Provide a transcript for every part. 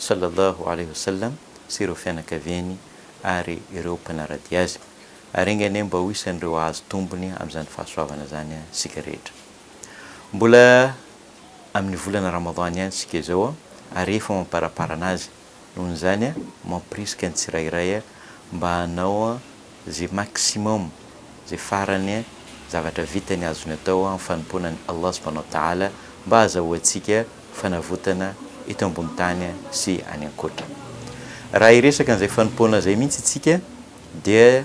Sallallahu Alaihi Wasallam sy ireo fianakaviany ary ireo mpanara-dia Azy. Ary enga anie mba ho isan'ireo hahazo tombony amin'izany fahasoavana izany isika rehetra. Mbola amin'ny volana Ramadan ihany isika izao ary efa mamparaparana azy. Noho izany, mampirisika ny tsirairay mba hanao Ze maximum, ze farany, zavatra vitany azony atao amin'ny fanompoana an'i Allah subhanahu wa ta'ala mba azahoantsika fanavotana eto ambony tany sy any ankoatra. Raha hiresaka an'izay fanompoana izay mihitsy isika dia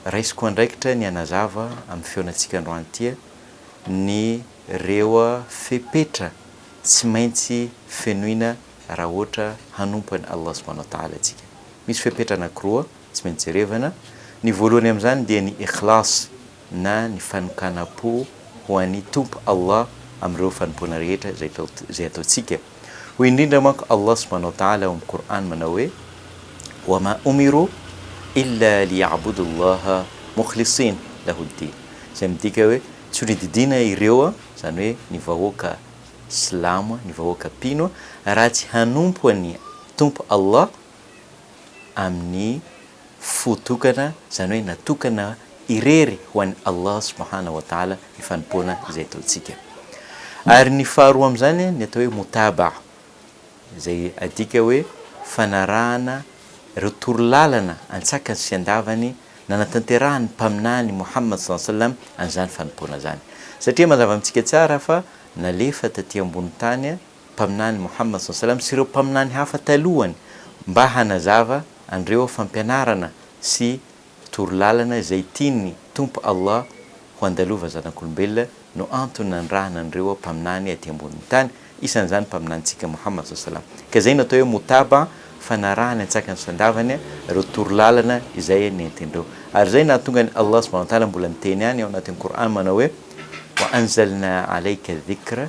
raisiko andraikitra ny hanazava amin'ny feonantsika androany ity ny reo fepetra tsy maintsy fenoina raha ohatra hanompo an'i Allah subhanahu wa ta'ala isika. Misy fepetra anankiroa. tsy maintsy jerevana, ny voalohany amin'izany dia ny ikhlas na ny fanokanam-po ho an'i Tompo Allah amin'ireo fanompoana rehetra izay atao izay ataontsika, hoy indrindra manko Allah subhana wa ta'ala ao amin'ny Qur'an manao hoe, Wa ma umiru illa li'yabudu Allaha mukhlisin lahu ddin, izay midika hoe, tsy ho nodidiana ireo, izany hoe ny vahoaka silamo, ny vahoaka mpino, raha tsy hanompo an'i Tompo Allah amin'ny fo tokana, izany hoe natokana irery ho an'i Allah subhanahu wa ta'ala ny fanompoana izay ataontsika. Ary ny faharoa amin'izany ny atao hoe moutaba'ah, izay adika hoe fanarahana ireo torolalana antsakany sy andavany nanatanterahan'ny Mpaminany Mouhammad sallallahu alayhi wa sallam an'izany fanompoana izany. Satria mazava amintsika tsara fa nalefa taty ambonin'ny tany Mpaminany Mohamad saw salam sy ireo Mpaminany hafa talohany mba hanazava an'ireo fampianarana sy toro lalana izay tian'ny Tompo Allah ho andalova zanak'olombelona no antony nanirahana an'ireo Mpaminany aty ambonin'ny tany, isan'izany Mpaminanintsika Mohamad saw salam. Ka izay no atao hoe Moutabaa, fanarahany antsakany sy andavany ireo toro lalana izay nentin'ireo. Ary izay no nahatonga an'i Allah subhanahu wa ta'ala mbola niteny ihany ao anatin'ny Qur'an manao hoe, Wa anzalnaa alaika dhikra,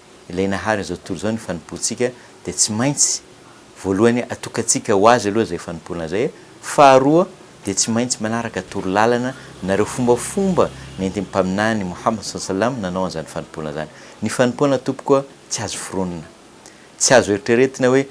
Ilay Nahary an'izao tontolo izao ny fanompoantsika dia tsy maintsy, voalohany, atokantsika ho Azy aloha izay fanompoana izay, faharoa, dia tsy maintsy manaraka toro lalana na ireo fombafomba nentin'ny Mpaminany Mohamad saw salam nanao an'izany fanompoana izany. Ny fanompoana tompoko a, tsy azo foronina. Tsy azo eritreretina hoe,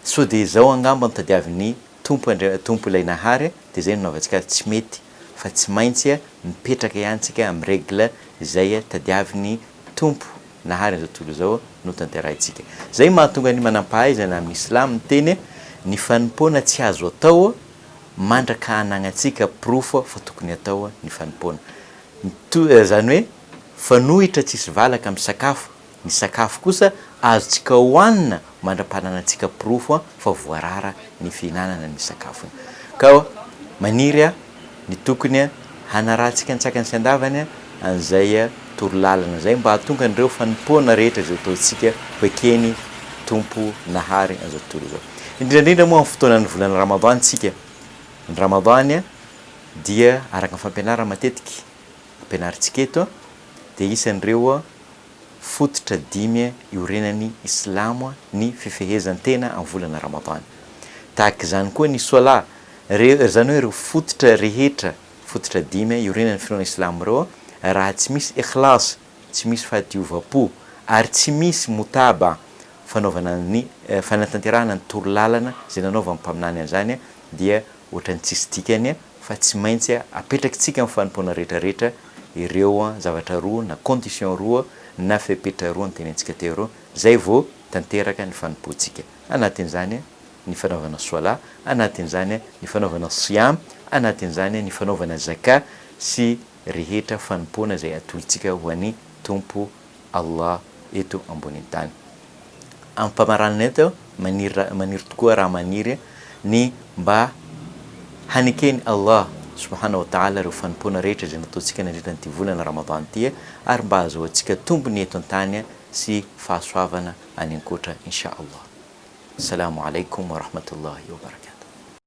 sao dia izao angamba no tadiavin'ny. Tompo Andria Tompo ilay Nahary de zay no nanaovantsika azy tsy mety fa tsy maintsy mipetraka ihany tsika am règle zay tadiavin'ny Tompo Nahary an'izao tontolo izao no tanterahintsika. Zay mahatonga ny manampahaizana amin'ny Islam miteny ny fanompoana tsy azo atao mandraka anagnantsika porofo fa tokony atao ny fanompoana. Mitohy zany hoe fanohitra tsisy valaka amin'ny sakafo Ny sakafo kosa azontsika hohanina mandra-pananantsika porofo fa voarara ny fihinanana ny sakafony. Ka maniry ny tokony hanarahantsika an-tsakany sy an-davany an'izay toro lalana izay mba hahatonga an'ireo fanompoana rehetra izay ataontsika ho eken'ny Tompo nahary an'izao tontolo izao. Indrindra indrindra moa amin'ny fotoanan'ny volana Ramadan isika. Ny Ramadan dia araka ny fampianarana matetika ampianarintsika eto dia isan'ireo fototra dimy iorenan'ny Islamo ny fifehezan-tena amin'ny volana Ramadan. Tahaka izany koa ny Swala, re, izany hoe ireo fototra rehetra, fototra dimy iorenan'ny finoana Islamo ireo, raha tsy misy ikhlas, tsy misy fahadiovam-po, ary tsy misy mutaba, fanaovana ny, fanatanterahana ny toro lalana izay nanaovan'ny Mpaminany an'izany, dia ohatran'ny tsisy dikany fa tsy maintsy apetrakitsika amin'ny fanompoana rehetra rehetra ireo zavatra roa na conditions roa na fepetra roa notenenintsika teo ireo izay vao tanteraka ny fanompoantsika. Anatin'izany ny fanaovana Swalah, anatin'izany ny fanaovana Siyam, anatin'izany ny fanaovana Zakah sy rehetra fanompoana izay atointsika ho an'i Tompo Allah eto ambonin'ny tany. Amim-pamaranana eto, maniry maniry tokoa raha maniry ny mba haneken'i Allah subhana wa ta'ala ireo fanompoana rehetra izay nataontsika nandritra an'ity volana Ramadan ity ary mba hahazoantsika tombony eto an-tany sy fahasoavana any an-koatra Insha Allah. Salamu Alaikum wa Rahmatullahi wa Barakatuh.